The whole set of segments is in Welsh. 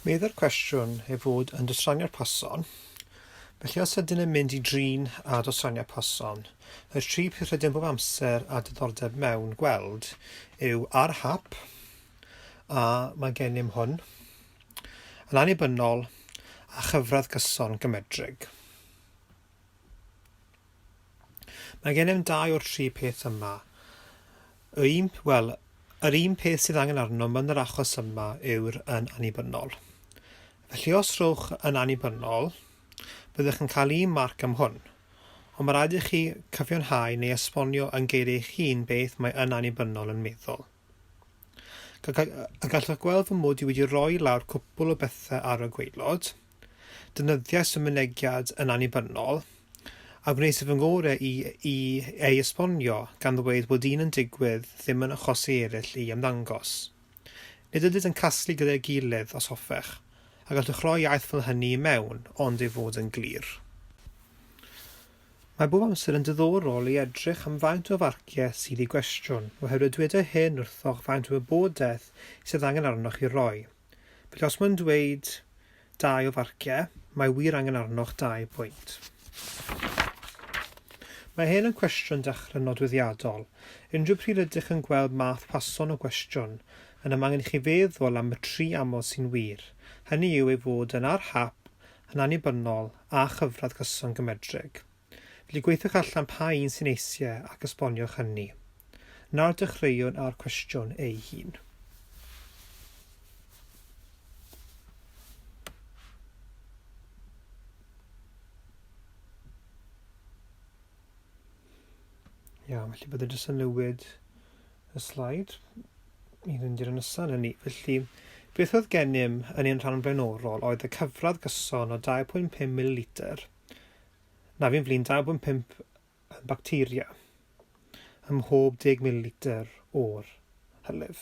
Meddai'r cwestiwn ei fod yn dosraniad person, felly os ydyn yn mynd i drin a dosraniad person, y tri peth rydym bob amser a diddordeb mewn gweld yw ar hap a mae gennym hwn, yn annibynnol, a chyfradd gyson gymedrig. Mae gennym dau o'r tri peth yma. Y un, wel, yr un peth sydd angen arnom yn yr achos yma yw'r yn annibynnol. Felly os rhowch yn annibynnol, byddwch yn cael un marc am hwn. Ond mae rhaid i chi cyfiawnhau neu esbonio yn geiriau eich hun beth mae yn annibynnol yn meddwl. A gallwch gweld fy mod i wedi rhoi lawr cwpl o bethau ar y gwaelod. Defnyddiais y mynegiad yn annibynnol, a gwnes i fy ngorau i i ei esbonio, gan ddweud bod un yn digwydd ddim yn achosi eraill i ymddangos. Nid ydynt yn casglu gyda'i gilydd, os hoffech, a gallwch roi iaith fel hynny i mewn, ond ei fod yn glir. Mae bob amser yn diddorol i edrych am faint o farciau sydd i gwestiwn, oherwydd dyweda hyn wrthoch faint o wybodaeth sydd angen arnoch i roi. Felly os mae'n dweud dau o farciau, mae wir angen arnoch dau bwynt. Mae hyn yn cwestiwn dechrau nodweddiadol. Unrhyw pryd rydych yn gweld math pason o gwestiwn, yna mae angen i chi feddwl am y tri amod sy'n wir, hynny yw ei fod yn ar hap yn annibynnol a chyfradd gyson gymedreg. Felly gweithiwch allan pa un sy'n eisie ac esboniwch hynny. Nawr dechreuwn â'r cwestiwn ei hun. Iawn, felly byddwn jyst yn newid y slaid i fynd i'r nesaf na ni. Felly, beth oedd gennym yn ein rhan flaenorol oedd y cyfradd gyson o 2.5 ml na fi'n flin 2.5 bacteria ym mhob 10 ml o'r hylif.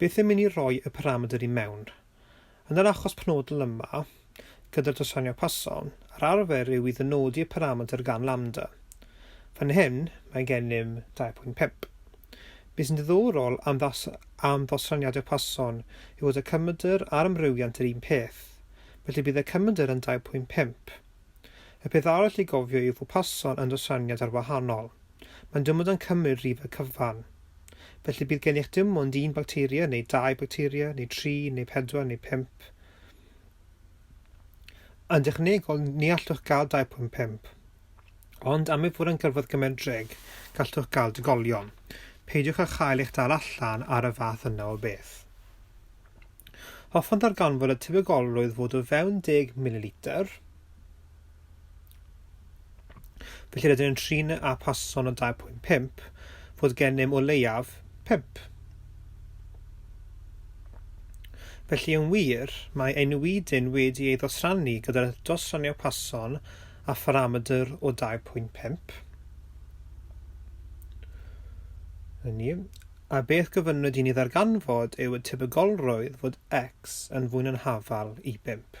Beth am i ni roi y paramedr i mewn? Yn yr achos penodol yma, gyda'r dosranio person, yr arfer yw i ddynodi y paramedr gan lambda. Fan hyn, mae gennym 2.5. Be sy'n ddiddorol am am ddosraniadau person yw fod y cymedr a'r amrywiant yr un peth, felly bydd y cymedr yn 2.5. Y peth arall i gofio yw fod person yn dosraniad ar wahanol. Mae'n dymod yn cymryd rhifau cyfan. Felly bydd gennych dim ond un bacteria, neu dau bacteria, neu tri, neu pedwar, neu pump. Yn dechnegol, ni allwch gael 2.5. Ond am ei fod yn gyrfaodd gymedreg, gallwch gael dygolion. Peidiwch â chael eich dal allan ar y fath yna o beth. Hoffwn ddarganfod y tebygolrwydd fod o fewn 10 mililitr, Felly rydyn yn trin â person o 2.5 fod gennym o leiaf 5. Felly yn wir, mae ein wedyn wedi ei ddosrannu gyda'r dosranio pason a pharamedr o 2.5. Hynny, a beth gyfynnwyd i ni ddarganfod yw y tebygolrwydd fod x yn fwy na'n hafal i 5.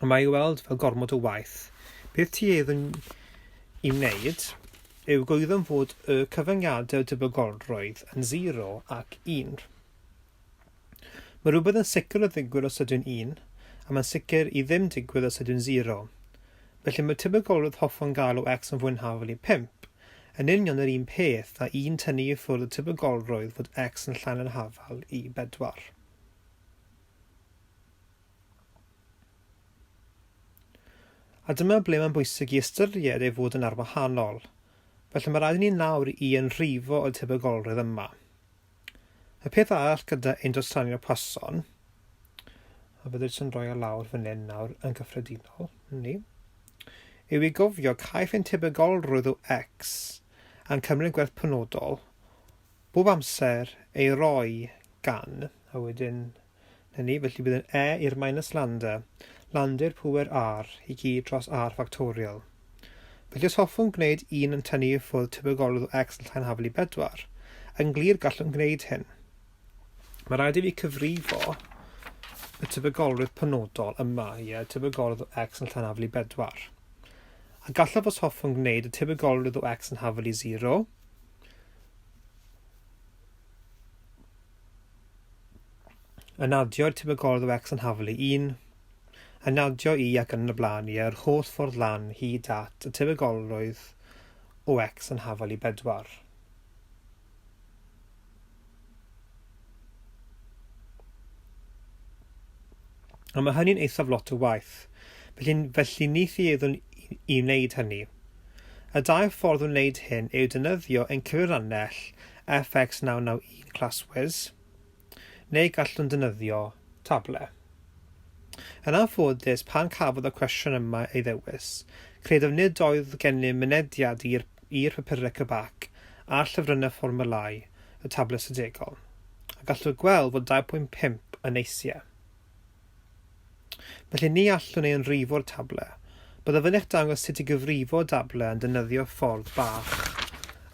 Ond mae ei weld fel gormod o waith. Beth ti eiddwn i wneud yw goeddwn fod y cyfyngiadau o debygolrwydd yn 0 ac 1. Mae rhywbeth yn sicr o ddigwydd os ydyw'n 1, a mae'n sicr i ddim digwydd os ydyw'n 0. Felly mae tebygolrwydd hoffwn gael o x yn fwynhafol i 5 yn union yr un peth a 1 tynnu i ffwrdd y tebygolrwydd fod x yn llai na'r hafal i 4. A dyma ble mae'n bwysig i ystyried ei fod yn arwahanol. Felly, mae rhaid i ni nawr i yn rhifo y tebygolrwydd yma. Y peth arall gyda ein dosranio person, a fyddet yn rhoi o lawr fan hyn nawr yn gyffredinol, ni, yw i gofio caiff ein tebygolrwydd o X a'n cymryd gwerth penodol bob amser ei roi gan, a wedyn 'na ni, felly bydd yn e i'r minus lambda, lambda'r pŵer r i gyd dros r factorial. Felly os hoffwn gwneud un yn tynnu i ffwrdd tebygolrwydd o x yn llai na hafel i bedwar, yn glir gallwn gwneud hyn. Mae rhaid i fi cyfrifo y tebygolrwydd penodol yma, ie, tebygolrwydd o x yn llai na hafel i bedwar. A gallaf os hoffwn gwneud y tebygolrwydd o x yn hafel i 0, yn adio i'r tebygolrwydd o X yn haflu 1, yn adio i ac yn y blaen i yr holl ffordd lan hyd at y tebygolrwydd o X yn haflu 4. A mae hynny'n eithaf lot o waith. Felly, felly ni thi eddwn i wneud hynny. Y dau ffordd o wneud hyn yw defnyddio ein cyfrannell FX 991 ClassWiz, neu gallwn ddefnyddio Tableau. Yn anffodus, pan cafodd y cwestiwn yma ei ddewis, credaf nid oedd gennym mynediad i'r i'r papurau cybac a llyfrynnau fformwlâu y Tableau Sydegol, a gallwch weld fod 2.5 yn eisiau. Felly ni allwn ei ynrhifo o'r table. Byddaf yn eich dangos sut i gyfrifo dable yn defnyddio ffordd bach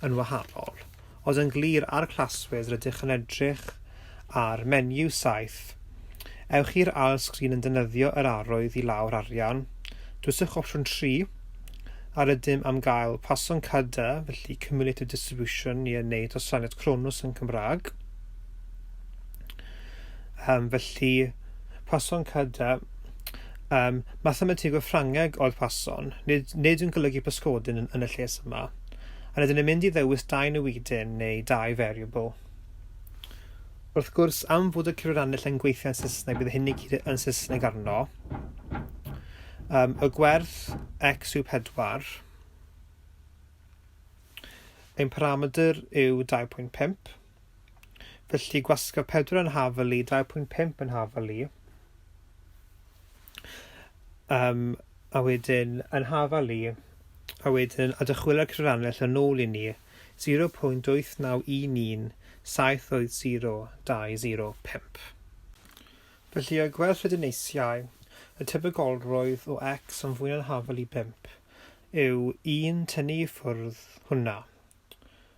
yn wahanol, ond yn glir ar Classwiz rydych yn edrych ar menu 7. Ewch i'r ail sgrin yn defnyddio yr arwydd i lawr arian, dwyswch opsiwn 3, a rydym am gael Poisson Cade, felly Cumulative Distribution, i yn neud osaniad Cronus yn Cymraeg. Um, felly, person cyda um, mathemategwr Ffrangeg oedd person, nid, nid yn golygu pysgodyn yn, yn y lles yma. A rydyn ni'n mynd i ddewis dau newidyn neu dau variable. Wrth gwrs, am fod y cyfranill yn gweithio yn Saesneg, bydd hyn i gyd yn Saesneg arno. Um, y gwerth x yw 4. Ein parametr yw 2.5. Felly gwasga 4 yn haf y lu, 2.5 yn haf y lu. Um, a wedyn yn haf y lu, a wedyn a dychwylio'r cyfrannell yn ôl i ni, 0.8911 7 oedd 0205. Felly o'i gweld lle dyneisiau, y tebygolrwydd o x yn fwy na'n hafel i 5 yw 1 tynnu i ffwrdd hwnna.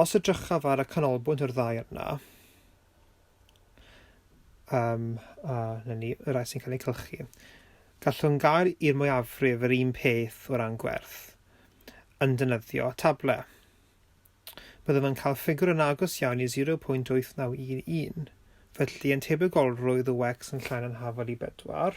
Os edrychaf ar y canolbwynt o'r ddau yna, um, a na ni, y rai sy'n cael eu cylchu, gallwn gael i'r mwyafrif yr un peth o ran gwerth yn dynyddio table. Byddwn yn cael ffigur yn agos iawn i 0.8911, felly yn tebygolrwydd y wecs yn llain yn hafal i bedwar.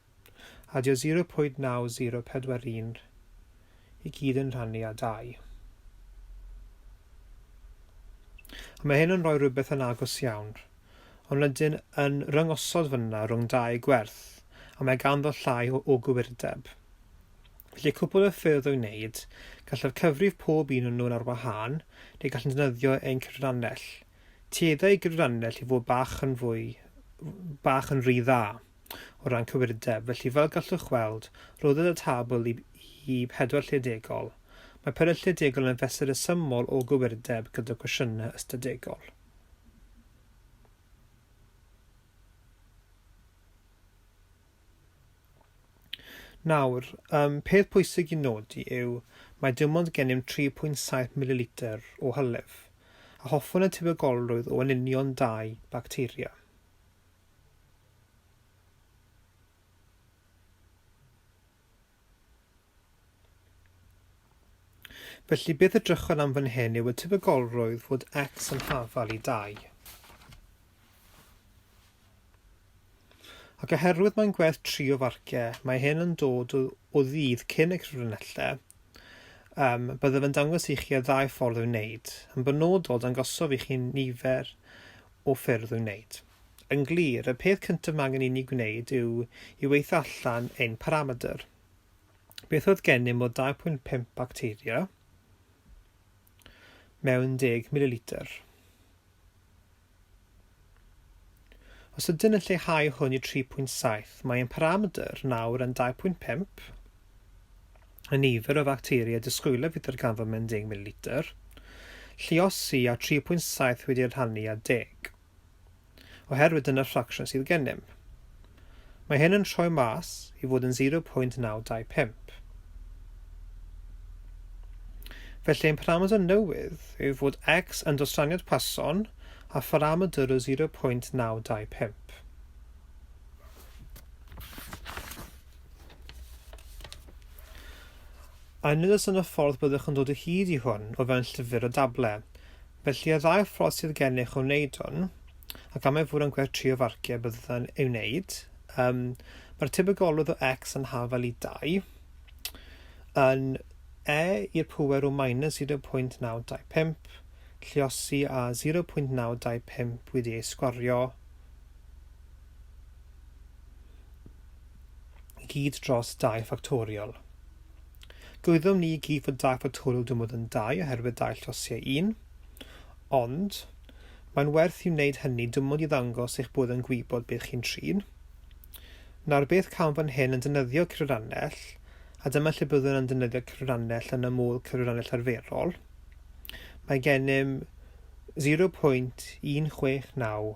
Adio 0.9041 i gyd yn rhannu â 2. A mae hyn yn rhoi rhywbeth yn agos iawn, ond rydyn yn rhyngosod fyna rhwng dau gwerth, a mae ganddo llai o, o gywirdeb. Felly cwpl o ffyrdd o'i wneud, gallaf cyfrif pob un o'n nhw'n ar wahân, neu gallwn ddefnyddio ein cyfrannell. Tueddai gyfrannell i fod bach yn fwy, bach yn rhy dda. o ran cywirdeb, felly fel gallwch weld, rhoddodd y tabl i i pedwar lle degol. Mae pedwar lle degol yn fesur rhesymol o gywirdeb gyda gwestiynau ystadegol. Nawr, um, peth pwysig i nodi yw mae dim ond gennym 3.7 mililitr o hylif, a hoffwn y tebygolrwydd o yn union dau bacteria. Felly, beth y drychwn am fan hyn yw y tebygolrwydd fod x yn hafal i 2. Ac oherwydd mae'n gwerth 3 o farciau, mae hyn yn dod o, o ddydd cyn y cyfrinellau, um, byddaf yn dangos i chi y ddau ffordd o'i wneud. Yn benodol, dangosof i chi nifer o ffyrdd i'w wneud. Yn glir, y peth cyntaf mae angen inni gwneud yw i weithio allan ein parametr. Beth oedd gennym o 2.5 bacteria mewn 10 mililitr? Os ydyn yn lleihau hwn i 3.7, mae ein parametr nawr yn 2.5 y nifer o facteria disgwylaf i ddarganfod mewn 10 mililitr, lluosi a 3.7 wedi eu rhannu â 10. Oherwydd dyna'r ffracsiwn sydd gennym. Mae hyn yn rhoi mas i fod yn 0.925. Felly ein parameter newydd yw fod x yn dosraniad Poisson a pharameter o 0.925. A nid oes yna ffordd byddwch yn dod o hyd i hwn o fewn llyfr o dable. Felly y ddau ffordd sydd gennych o wneud hwn, ac am ei fod yn gwerth trio farciau byddwn ei wneud, um, mae'r tebygolwedd o x yn hafal i 2 yn e i'r pŵer o minus 0.925 lliosi a 0.925 wedi ei sgwario i gyd dros dai ffactoriol. Gwyddom ni i gyd fod dai ffactoriol dim ond yn dai oherwydd dau llosiau un, ond mae'n werth i wneud hynny dim ond i ddangos eich bod yn gwybod beth chi'n trin. Nawr beth cawn fan hyn yn defnyddio cyfrannell, a dyma lle byddwn yn defnyddio cyfrannell yn ymwl cyfrannell arferol. Mae gennym 0.169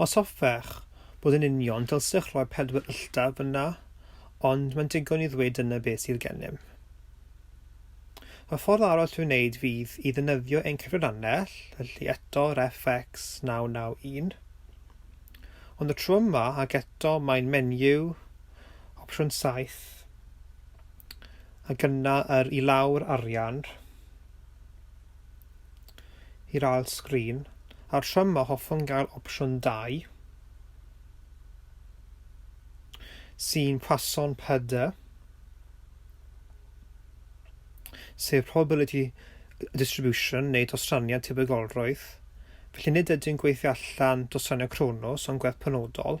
Os hoffech bod yn union, dylsech roi pedwar ylltaf yna, ond mae'n digon i ddweud dyna beth sydd gennym. Y ffordd aros i'w wneud fydd i ddynyddio ein cyfrannell, felly eto RFX 991. Ond y tro yma, ac eto, mae'n menyw, opsiwn 7, ac yna yr i lawr arian i'r ail sgrin a'r tro yma hoffwn gael opsiwn 2 sy'n Poisson PD sef probability distribution neu dostraniad tebygolrwydd felly nid ydy'n gweithio allan dostraniad Cronos ond gwerth penodol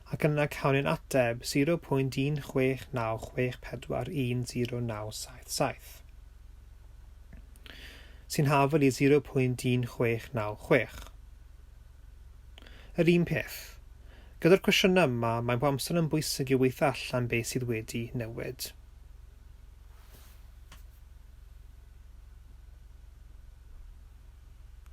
ac yna cawn ein ateb 0.169641097 sy'n hafal i 0.16966. Yr un peth. Gyda'r cwestiynau yma, mae'n bob amser yn bwysig i weithio allan beth sydd wedi newid.